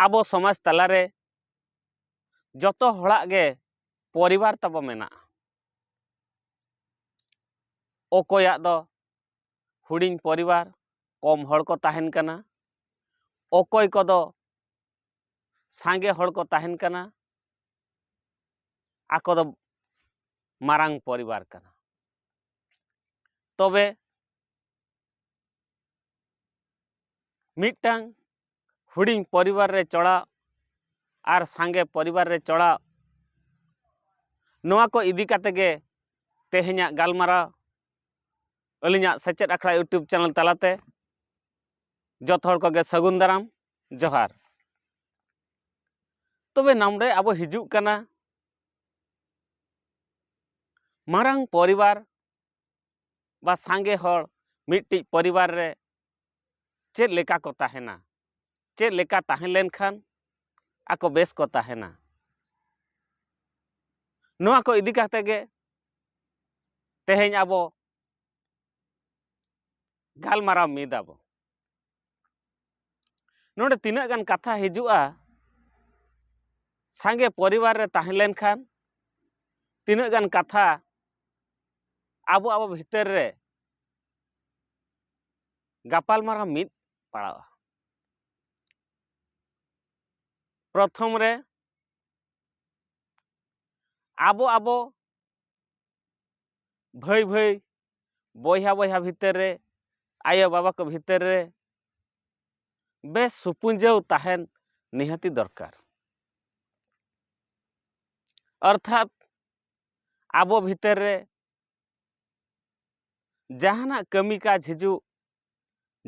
ᱟᱵᱚ ᱥᱚᱢᱟᱡᱽ ᱛᱟᱞᱟᱨᱮ ᱡᱚᱛᱚ ᱦᱚᱲᱟᱜ ᱜᱮ ᱯᱚᱨᱤᱵᱟᱨ ᱛᱟᱵᱚ ᱢᱮᱱᱟᱜᱼᱟ ᱚᱠᱚᱭᱟᱜ ᱫᱚ ᱦᱩᱰᱤᱧ ᱯᱚᱨᱤᱵᱟᱨ ᱠᱚᱢ ᱦᱚᱲ ᱠᱚ ᱛᱟᱦᱮᱱ ᱠᱟᱱᱟ ᱚᱠᱚᱭ ᱠᱚᱫᱚ ᱥᱟᱸᱜᱮ ᱦᱚᱲ ᱠᱚ ᱛᱟᱦᱮᱱ ᱠᱟᱱᱟ ᱟᱠᱚ ᱫᱚ ᱢᱟᱨᱟᱝ ᱯᱚᱨᱤᱵᱟᱨ ᱠᱟᱱᱟ ᱛᱚᱵᱮ ᱢᱤᱫᱴᱟᱝ ᱦᱩᱰᱤᱧ ᱯᱚᱨᱤᱵᱟᱨ ᱨᱮ ᱪᱚᱲᱟᱣ ᱟᱨ ᱥᱟᱸᱜᱮ ᱯᱚᱨᱤᱵᱟᱨ ᱨᱮ ᱪᱚᱲᱟᱣ ᱱᱚᱣᱟ ᱠᱚ ᱤᱫᱤ ᱠᱟᱛᱮ ᱜᱮ ᱛᱮᱦᱮᱧᱟᱜ ᱜᱟᱞᱢᱟᱨᱟᱣ ᱟᱹᱞᱤᱧᱟᱜ ᱥᱮᱪᱮᱫ ᱟᱠᱷᱲᱟ ᱤᱭᱩᱴᱩᱵᱽ ᱪᱮᱱᱮᱞ ᱛᱟᱞᱟᱛᱮ ᱡᱚᱛᱚ ᱦᱚᱲ ᱠᱚᱜᱮ ᱥᱟᱹᱜᱩᱱ ᱫᱟᱨᱟᱢ ᱡᱚᱦᱟᱨ ᱛᱚᱵᱮ ᱱᱟᱢᱰᱮ ᱟᱵᱚ ᱦᱤᱡᱩᱜ ᱠᱟᱱᱟ ᱢᱟᱨᱟᱝ ᱯᱚᱨᱤᱵᱟᱨ ᱵᱟ ᱥᱟᱸᱜᱮ ᱦᱚᱲ ᱢᱤᱫᱴᱤᱡ ᱯᱚᱨᱤᱵᱟᱨ ᱨᱮ ᱪᱮᱫ ᱞᱮᱠᱟ ᱠᱚ ᱛᱟᱦᱮᱱᱟ ᱪᱮᱫ ᱞᱮᱠᱟ ᱛᱟᱦᱮᱸ ᱞᱮᱱᱠᱷᱟᱱ ᱟᱠᱚ ᱵᱮᱥ ᱠᱚ ᱛᱟᱦᱮᱱᱟ ᱱᱚᱣᱟ ᱠᱚ ᱤᱫᱤ ᱠᱟᱛᱮ ᱜᱮ ᱛᱮᱦᱮᱧ ᱟᱵᱚ ᱜᱟᱞᱢᱟᱨᱟᱣ ᱢᱤᱫᱟᱵᱚ ᱱᱚᱰᱮ ᱛᱤᱱᱟᱹᱜ ᱜᱟᱱ ᱠᱟᱛᱷᱟ ᱦᱤᱡᱩᱜᱼᱟ ᱥᱟᱸᱜᱮ ᱯᱚᱨᱤᱵᱟᱨ ᱨᱮ ᱛᱟᱦᱮᱸ ᱞᱮᱱᱠᱷᱟᱱ ᱛᱤᱱᱟᱹᱜ ᱜᱟᱱ ᱠᱟᱛᱷᱟ ᱟᱵᱚ ᱟᱵᱚ ᱵᱷᱤᱛᱟᱹᱨ ᱨᱮ ᱜᱟᱯᱟᱞᱢᱟᱨᱟᱣ ᱢᱤᱫ ᱯᱟᱲᱟᱜᱼᱟ ᱯᱨᱚᱛᱷᱚᱢ ᱨᱮ ᱟᱵᱚ ᱟᱵᱚ ᱵᱷᱟᱹᱭ ᱵᱷᱟᱹᱭ ᱵᱚᱭᱦᱟ ᱵᱚᱭᱦᱟ ᱵᱷᱤᱛᱟᱹᱨ ᱨᱮ ᱟᱭᱳ ᱵᱟᱵᱟ ᱠᱚ ᱵᱷᱤᱛᱟᱹᱨ ᱨᱮ ᱵᱮᱥ ᱥᱩᱯᱩᱸᱡᱟᱹᱣ ᱛᱟᱦᱮᱱ ᱱᱤᱦᱟᱹᱛᱤ ᱫᱚᱨᱠᱟᱨ ᱚᱨᱛᱷᱟᱛ ᱟᱵᱚ ᱵᱷᱤᱛᱟᱹᱨ ᱨᱮ ᱡᱟᱦᱟᱱᱟᱜ ᱠᱟᱹᱢᱤ ᱠᱟᱡᱽ ᱦᱤᱡᱩᱜ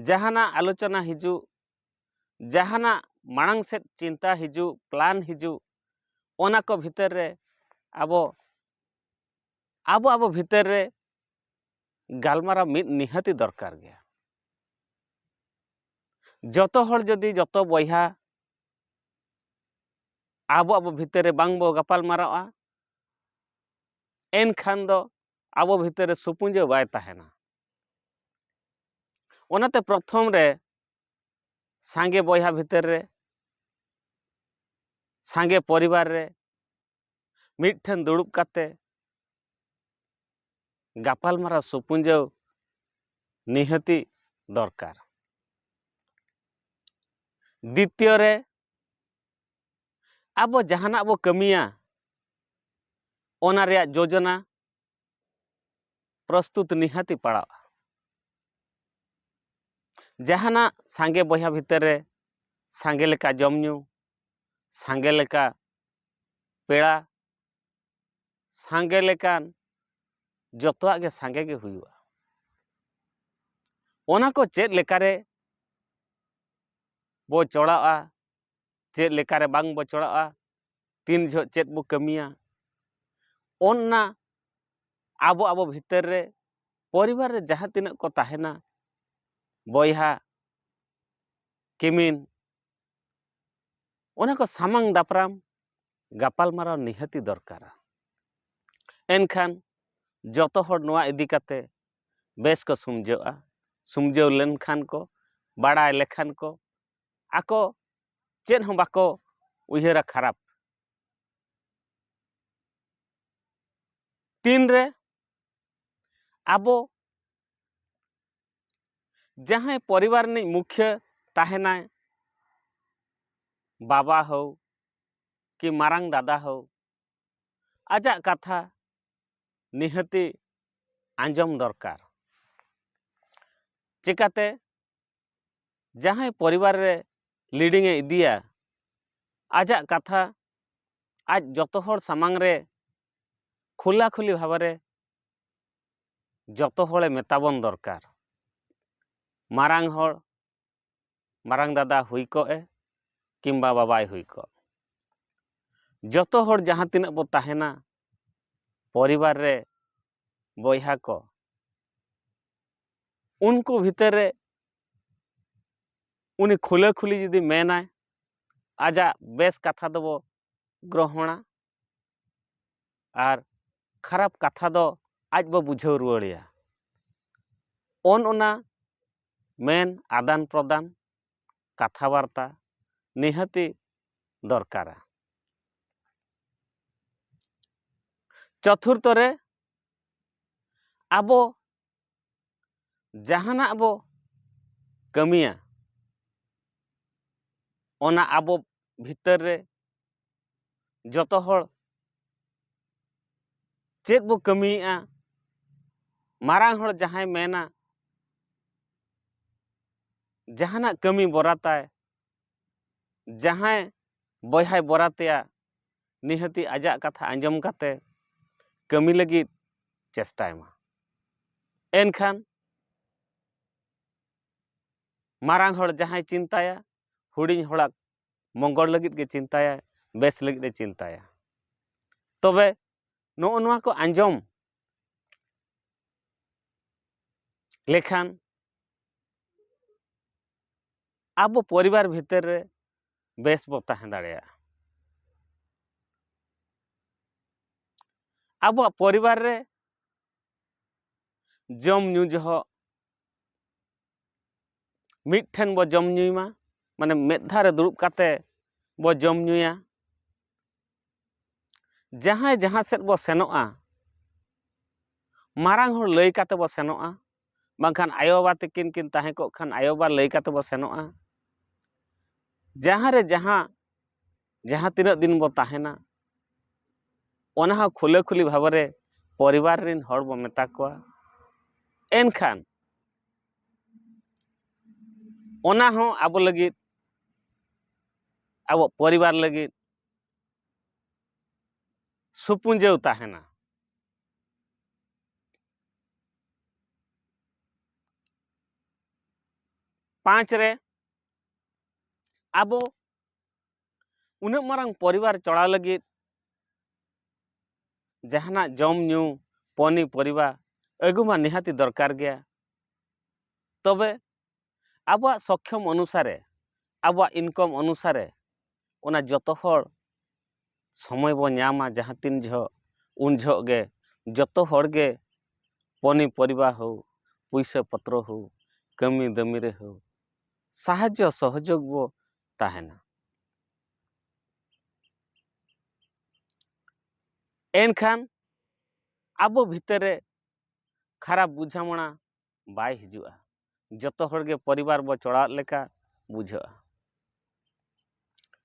ᱡᱟᱦᱟᱱᱟᱜ ᱟᱞᱳᱪᱚᱱᱟ ᱦᱤᱡᱩᱜ ᱡᱟᱦᱟᱱᱟᱜ ᱢᱟᱲᱟᱝ ᱥᱮᱫ ᱪᱤᱱᱛᱟ ᱦᱤᱡᱩᱜ ᱯᱞᱟᱱ ᱦᱤᱡᱩᱜ ᱚᱱᱟ ᱠᱚ ᱵᱷᱤᱛᱟᱹᱨ ᱨᱮ ᱟᱵᱚ ᱟᱵᱚ ᱟᱵᱚ ᱵᱷᱤᱛᱟᱹᱨ ᱨᱮ ᱜᱟᱞᱢᱟᱨᱟᱣ ᱢᱤᱫ ᱱᱤᱦᱟᱹᱛᱤ ᱫᱚᱨᱠᱟᱨ ᱜᱮᱭᱟ ᱡᱚᱛᱚ ᱦᱚᱲ ᱡᱩᱫᱤ ᱡᱚᱛᱚ ᱵᱚᱭᱦᱟ ᱟᱵᱚ ᱟᱵᱚ ᱵᱷᱤᱛᱟᱹᱨ ᱨᱮ ᱵᱟᱝ ᱵᱚ ᱜᱟᱯᱟᱞ ᱢᱟᱨᱟᱣᱟ ᱮᱱᱠᱷᱟᱱ ᱫᱚ ᱟᱵᱚ ᱵᱷᱤᱛᱟᱹᱨ ᱨᱮ ᱥᱩᱯᱩᱸᱡᱟᱹ ᱵᱟᱭ ᱛᱟᱦᱮᱱᱟ ᱚᱱᱟᱛᱮ ᱯᱨᱚᱛᱷᱚᱢ ᱨᱮ ᱥᱟᱸᱜᱮ ᱵᱚᱭᱦᱟ ᱵᱷᱤᱛᱟᱹᱨ ᱨᱮ ᱥᱟᱸᱜᱮ ᱯᱚᱨᱤᱵᱟᱨ ᱨᱮ ᱢᱤᱫᱴᱷᱮᱱ ᱫᱩᱲᱩᱵ ᱠᱟᱛᱮ ᱜᱟᱯᱟᱞᱢᱟᱨᱟᱣ ᱥᱩᱯᱩᱸᱡᱟᱹᱣ ᱱᱤᱦᱟᱹᱛᱤ ᱫᱚᱨᱠᱟᱨ ᱫᱤᱛᱤᱭᱚ ᱨᱮ ᱟᱵᱚ ᱡᱟᱦᱟᱱᱟᱜ ᱵᱚ ᱠᱟᱹᱢᱤᱭᱟ ᱚᱱᱟ ᱨᱮᱭᱟᱜ ᱡᱳᱡᱚᱱᱟ ᱯᱨᱚᱥᱛᱩᱛ ᱱᱤᱦᱟᱹᱛᱤ ᱯᱟᱲᱟᱜᱼᱟ ᱡᱟᱦᱟᱱᱟᱜ ᱥᱟᱸᱜᱮ ᱵᱚᱭᱦᱟ ᱵᱷᱤᱛᱟᱹᱨ ᱨᱮ ᱥᱟᱸᱜᱮ ᱞᱮᱠᱟ ᱡᱚᱢ ᱧᱩ ᱥᱟᱸᱜᱮ ᱞᱮᱠᱟ ᱯᱮᱲᱟ ᱥᱟᱸᱜᱮ ᱞᱮᱠᱟᱱ ᱡᱚᱛᱚᱣᱟᱜ ᱜᱮ ᱥᱟᱸᱜᱮ ᱜᱮ ᱦᱩᱭᱩᱜᱼᱟ ᱚᱱᱟ ᱠᱚ ᱪᱮᱫ ᱞᱮᱠᱟᱨᱮ ᱵᱚ ᱪᱚᱲᱟᱜᱼᱟ ᱪᱮᱫ ᱞᱮᱠᱟᱨᱮ ᱵᱟᱝ ᱵᱚᱪᱚᱲᱚᱜᱼᱟ ᱛᱤᱱ ᱡᱚᱦᱚᱜ ᱪᱮᱫ ᱵᱚ ᱠᱟᱹᱢᱤᱭᱟ ᱚᱱᱟ ᱟᱵᱚ ᱟᱵᱚ ᱵᱷᱤᱛᱟᱹᱨ ᱨᱮ ᱯᱚᱨᱤᱵᱟᱨ ᱨᱮ ᱡᱟᱦᱟᱸ ᱛᱤᱱᱟᱹᱜ ᱠᱚ ᱛᱟᱦᱮᱱᱟ ᱵᱚᱭᱦᱟ ᱠᱤᱢᱤᱱ ᱚᱱᱟ ᱠᱚ ᱥᱟᱢᱟᱝ ᱫᱟᱯᱨᱟᱢ ᱜᱟᱯᱟᱞᱢᱟᱨᱟᱣ ᱱᱤᱦᱟᱹᱛᱤ ᱫᱚᱨᱠᱟᱨᱟ ᱮᱱᱠᱷᱟᱱ ᱡᱚᱛᱚ ᱦᱚᱲ ᱱᱚᱣᱟ ᱤᱫᱤ ᱠᱟᱛᱮ ᱵᱮᱥ ᱠᱚ ᱥᱩᱢᱡᱷᱟᱹᱜᱼᱟ ᱥᱩᱢᱡᱷᱟᱹᱣ ᱞᱮᱱᱠᱷᱟᱱ ᱠᱚ ᱵᱟᱲᱟᱭ ᱞᱮᱠᱷᱟᱱ ᱠᱚ ᱟᱠᱚ ᱪᱮᱫ ᱦᱚᱸ ᱵᱟᱠᱚ ᱩᱭᱦᱟᱹᱨᱟ ᱠᱷᱟᱨᱟᱯ ᱛᱤᱱᱨᱮ ᱟᱵᱚ ᱡᱟᱦᱟᱸᱭ ᱯᱚᱨᱤᱵᱟᱨ ᱨᱤᱱᱤᱡ ᱢᱩᱠᱷᱭᱟᱹ ᱛᱟᱦᱮᱱᱟᱭ ᱵᱟᱵᱟ ᱦᱳᱣ ᱠᱤ ᱢᱟᱨᱟᱝ ᱫᱟᱫᱟ ᱦᱳᱣ ᱟᱡᱟᱜ ᱠᱟᱛᱷᱟ ᱱᱤᱦᱟᱹᱛᱤ ᱟᱸᱡᱚᱢ ᱫᱚᱨᱠᱟᱨ ᱪᱮᱠᱟᱛᱮ ᱡᱟᱦᱟᱸᱭ ᱯᱚᱨᱤᱵᱟᱨ ᱨᱮ ᱞᱤᱰᱤᱝ ᱮ ᱤᱫᱤᱭᱟ ᱟᱡᱟᱜ ᱠᱟᱛᱷᱟ ᱟᱡ ᱡᱚᱛᱚ ᱦᱚᱲ ᱥᱟᱢᱟᱝ ᱨᱮ ᱠᱷᱩᱞᱟ ᱠᱷᱩᱞᱤ ᱵᱷᱟᱵᱮ ᱡᱚᱛᱚ ᱦᱚᱲᱮ ᱢᱮᱛᱟ ᱵᱚᱱ ᱫᱚᱨᱠᱟᱨ ᱢᱟᱨᱟᱝ ᱦᱚᱲ ᱢᱟᱨᱟᱝ ᱫᱟᱫᱟ ᱦᱩᱭ ᱠᱚᱜ ᱮ ᱠᱤᱢᱵᱟ ᱵᱟᱵᱟᱭ ᱦᱩᱭ ᱠᱚᱜ ᱡᱚᱛᱚ ᱦᱚᱲ ᱡᱟᱦᱟᱸ ᱛᱤᱱᱟᱹᱜ ᱵᱚ ᱛᱟᱦᱮᱱᱟ ᱯᱚᱨᱤᱵᱟᱨ ᱨᱮ ᱵᱚᱭᱦᱟ ᱠᱚ ᱩᱱᱠᱩ ᱵᱷᱤᱛᱟᱹᱨ ᱨᱮ ᱩᱱᱤ ᱠᱷᱩᱞᱟᱹ ᱠᱷᱩᱞᱤ ᱡᱩᱫᱤ ᱢᱮᱱᱟᱭ ᱟᱡᱟᱜ ᱵᱮᱥ ᱠᱟᱛᱷᱟ ᱫᱚᱵᱚ ᱜᱨᱚᱦᱚᱱᱟ ᱟᱨ ᱠᱷᱟᱨᱟᱯ ᱠᱟᱛᱷᱟ ᱫᱚ ᱟᱡ ᱵᱚ ᱵᱩᱡᱷᱟᱹᱣ ᱨᱩᱣᱟᱹᱲᱮᱭᱟ ᱚᱱ ᱚᱱᱟ ᱢᱮᱱ ᱟᱫᱟᱱ ᱯᱨᱚᱫᱟᱱ ᱠᱟᱛᱷᱟ ᱵᱟᱨᱛᱟ ᱱᱤᱦᱟᱹᱛᱤ ᱫᱚᱨᱠᱟᱨᱟ ᱪᱚᱛᱩᱨᱛᱷᱚ ᱨᱮ ᱟᱵᱚ ᱡᱟᱦᱟᱱᱟᱜ ᱵᱚ ᱠᱟᱹᱢᱤᱭᱟ ᱚᱱᱟ ᱟᱵᱚ ᱵᱷᱤᱛᱟᱹᱨ ᱨᱮ ᱡᱚᱛᱚ ᱦᱚᱲ ᱪᱮᱫ ᱵᱚ ᱠᱟᱹᱢᱤᱭᱮᱫᱼᱟ ᱢᱟᱨᱟᱝ ᱦᱚᱲ ᱡᱟᱦᱟᱸᱭ ᱢᱮᱱᱟ ᱡᱟᱦᱟᱱᱟᱜ ᱠᱟᱹᱢᱤ ᱵᱚᱨᱟᱛᱟᱭ ᱡᱟᱦᱟᱸᱭ ᱵᱚᱭᱦᱟᱭ ᱵᱚᱨᱟᱛᱮᱭᱟ ᱱᱤᱦᱟᱹᱛᱤ ᱟᱡᱟᱜ ᱠᱟᱛᱷᱟ ᱟᱸᱡᱚᱢ ᱠᱟᱛᱮ ᱠᱟᱹᱢᱤ ᱞᱟᱹᱜᱤᱫ ᱪᱮᱥᱴᱟᱭ ᱢᱟ ᱮᱱᱠᱷᱟᱱ ᱢᱟᱨᱟᱝ ᱦᱚᱲ ᱡᱟᱦᱟᱸᱭ ᱪᱤᱱᱛᱟᱹᱭᱟ ᱦᱩᱰᱤᱧ ᱦᱚᱲᱟᱜ ᱢᱚᱝᱜᱚᱞ ᱞᱟᱹᱜᱤᱫ ᱜᱮ ᱪᱤᱱᱛᱟᱭᱟᱭ ᱵᱮᱥ ᱞᱟᱹᱜᱤᱫ ᱮ ᱪᱤᱱᱛᱟᱭᱟ ᱛᱚᱵᱮ ᱱᱚᱜᱼᱚ ᱱᱚᱣᱟ ᱠᱚ ᱟᱸᱡᱚᱢ ᱞᱮᱠᱷᱟᱱ ᱟᱵᱚ ᱯᱚᱨᱤᱵᱟᱨ ᱵᱷᱤᱛᱤᱨ ᱨᱮ ᱵᱮᱥ ᱵᱚ ᱛᱟᱦᱮᱸ ᱫᱟᱲᱮᱭᱟᱜᱼᱟ ᱟᱵᱚᱣᱟᱜ ᱯᱚᱨᱤᱵᱟᱨ ᱨᱮ ᱡᱚᱢ ᱧᱩ ᱡᱚᱦᱚᱜ ᱢᱤᱫ ᱴᱷᱮᱱ ᱵᱚ ᱡᱚᱢ ᱧᱩᱭ ᱢᱟ ᱢᱟᱱᱮ ᱢᱤᱫ ᱫᱷᱟᱣ ᱨᱮ ᱫᱩᱲᱩᱵ ᱠᱟᱛᱮ ᱵᱚ ᱡᱚᱢ ᱧᱩᱭᱟ ᱡᱟᱦᱟᱸᱭ ᱡᱟᱦᱟᱸ ᱥᱮᱫ ᱵᱚ ᱥᱮᱱᱚᱜᱼᱟ ᱢᱟᱨᱟᱝ ᱦᱚᱲ ᱞᱟᱹᱭ ᱠᱟᱛᱮ ᱵᱚ ᱥᱮᱱᱚᱜᱼᱟ ᱵᱟᱝᱠᱷᱟᱱ ᱟᱭᱳᱼᱵᱟᱵᱟ ᱛᱟᱹᱠᱤᱱ ᱠᱤᱱ ᱛᱟᱦᱮᱸ ᱠᱚᱜ ᱠᱷᱟᱱ ᱟᱭᱳᱼᱵᱟᱵᱟ ᱞᱟᱹᱭ ᱠᱟᱛᱮ ᱵᱚ ᱥᱮᱱᱚᱜᱼᱟ ᱡᱟᱦᱟᱸ ᱨᱮ ᱡᱟᱦᱟᱸ ᱡᱟᱦᱟᱸ ᱛᱤᱱᱟᱹᱜ ᱫᱤᱱ ᱵᱚ ᱛᱟᱦᱮᱱᱟ ᱚᱱᱟ ᱦᱚᱸ ᱠᱷᱩᱞᱟᱹ ᱠᱷᱩᱞᱤ ᱵᱷᱟᱵᱽ ᱨᱮ ᱯᱚᱨᱤᱵᱟᱨ ᱨᱮᱱ ᱦᱚᱲ ᱵᱚ ᱢᱮᱛᱟ ᱠᱚᱣᱟ ᱮᱱᱠᱷᱟᱱ ᱚᱱᱟ ᱦᱚᱸ ᱟᱵᱚ ᱞᱟᱹᱜᱤᱫ ᱟᱵᱚ ᱯᱚᱨᱤᱵᱟᱨ ᱞᱟᱹᱜᱤᱫ ᱥᱩᱯᱩᱸᱡᱟᱹᱣ ᱛᱟᱦᱮᱱᱟ ᱯᱟᱸᱪ ᱨᱮ ᱟᱵᱚ ᱩᱱᱟᱹᱜ ᱢᱟᱨᱟᱝ ᱯᱚᱨᱤᱵᱟᱨ ᱪᱚᱲᱟᱣ ᱞᱟᱹᱜᱤᱫ ᱡᱟᱦᱟᱱᱟᱜ ᱡᱚᱢ ᱧᱩ ᱯᱚᱱᱤ ᱯᱚᱨᱤᱵᱟ ᱟᱹᱜᱩ ᱢᱟ ᱱᱤᱦᱟᱹᱛᱤ ᱫᱚᱨᱠᱟᱨ ᱜᱮᱭᱟ ᱛᱚᱵᱮ ᱟᱵᱚᱣᱟᱜ ᱥᱚᱠᱠᱷᱚᱢ ᱚᱱᱩᱥᱟᱨᱮ ᱟᱵᱚᱣᱟᱜ ᱤᱱᱠᱚᱢ ᱚᱱᱩᱥᱟᱨᱮ ᱚᱱᱟ ᱡᱚᱛᱚ ᱦᱚᱲ ᱥᱚᱢᱚᱭ ᱵᱚᱱ ᱧᱟᱢᱟ ᱡᱟᱦᱟᱸ ᱛᱤᱱ ᱡᱚᱦᱚᱜ ᱩᱱ ᱡᱚᱦᱚᱜ ᱜᱮ ᱡᱚᱛᱚ ᱦᱚᱲ ᱜᱮ ᱯᱚᱱᱤ ᱯᱚᱨᱤᱵᱟᱨ ᱦᱳ ᱯᱩᱭᱥᱟᱹ ᱯᱚᱛᱨᱚ ᱦᱳ ᱠᱟᱹᱢᱤ ᱫᱟᱹᱢᱤ ᱨᱮ ᱦᱳ ᱥᱟᱦᱟᱡᱽᱡᱚ ᱥᱚᱦᱚᱡᱳᱜᱽ ᱵᱚ ᱛᱟᱦᱮᱱᱟ ᱮᱱᱠᱷᱟᱱ ᱟᱵᱚ ᱵᱷᱤᱛᱟᱹᱨ ᱨᱮ ᱠᱷᱟᱨᱟᱯ ᱵᱩᱡᱷᱟᱹᱣᱱᱟ ᱵᱟᱭ ᱦᱤᱡᱩᱜᱼᱟ ᱡᱚᱛᱚ ᱦᱚᱲ ᱜᱮ ᱯᱚᱨᱤᱵᱟᱨ ᱵᱚ ᱪᱚᱲᱟᱣᱮᱫ ᱞᱮᱠᱟ ᱵᱩᱡᱷᱟᱹᱜᱼᱟ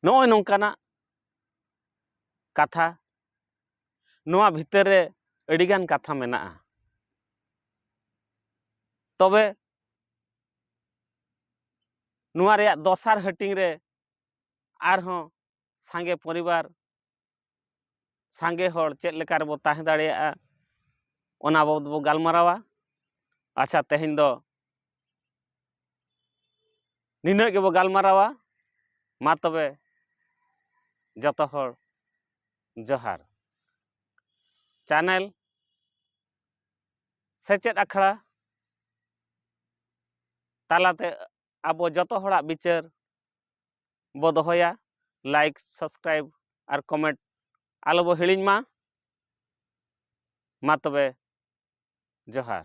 ᱱᱚᱜᱼᱚᱭ ᱱᱚᱝᱠᱟᱱᱟᱜ ᱠᱟᱛᱷᱟ ᱱᱚᱣᱟ ᱵᱷᱤᱛᱟᱹᱨ ᱨᱮ ᱟᱹᱰᱤᱜᱟᱱ ᱠᱟᱛᱷᱟ ᱢᱮᱱᱟᱜᱼᱟ ᱛᱚᱵᱮ ᱱᱚᱣᱟ ᱨᱮᱭᱟᱜ ᱫᱚᱥᱟᱨ ᱦᱟᱹᱴᱤᱧ ᱨᱮ ᱟᱨᱦᱚᱸ ᱥᱟᱸᱜᱮ ᱯᱚᱨᱤᱵᱟᱨ ᱥᱟᱸᱜᱮ ᱦᱚᱲ ᱪᱮᱫ ᱞᱮᱠᱟ ᱨᱮᱵᱚ ᱛᱟᱦᱮᱸ ᱫᱟᱲᱮᱭᱟᱜᱼᱟ ᱚᱱᱟ ᱵᱟᱵᱚᱫ ᱵᱚ ᱜᱟᱞᱢᱟᱨᱟᱣᱟ ᱟᱪᱪᱷᱟ ᱛᱮᱦᱮᱧ ᱫᱚ ᱱᱤᱱᱟᱹᱜ ᱜᱮᱵᱚ ᱜᱟᱞᱢᱟᱨᱟᱣᱟ ᱢᱟ ᱛᱚᱵᱮ ᱡᱚᱛᱚ ᱦᱚᱲ ᱡᱚᱦᱟᱨ ᱪᱟᱱᱮᱞ ᱥᱮᱪᱮᱫ ᱟᱠᱷᱲᱟ ᱛᱟᱞᱟᱛᱮ ᱟᱵᱚ ᱡᱚᱛᱚ ᱦᱚᱲᱟᱜ ᱵᱤᱪᱟᱹᱨ ᱵᱚ ᱫᱚᱦᱚᱭᱟ ᱞᱟᱭᱤᱠ ᱥᱟᱵᱥᱠᱨᱟᱭᱤᱵ ᱟᱨ ᱠᱚᱢᱮᱱᱴ ᱟᱞᱚ ᱵᱚ ᱦᱤᱲᱤᱧ ᱢᱟ ᱢᱟ ᱛᱚᱵᱮ ᱡᱚᱦᱟᱨ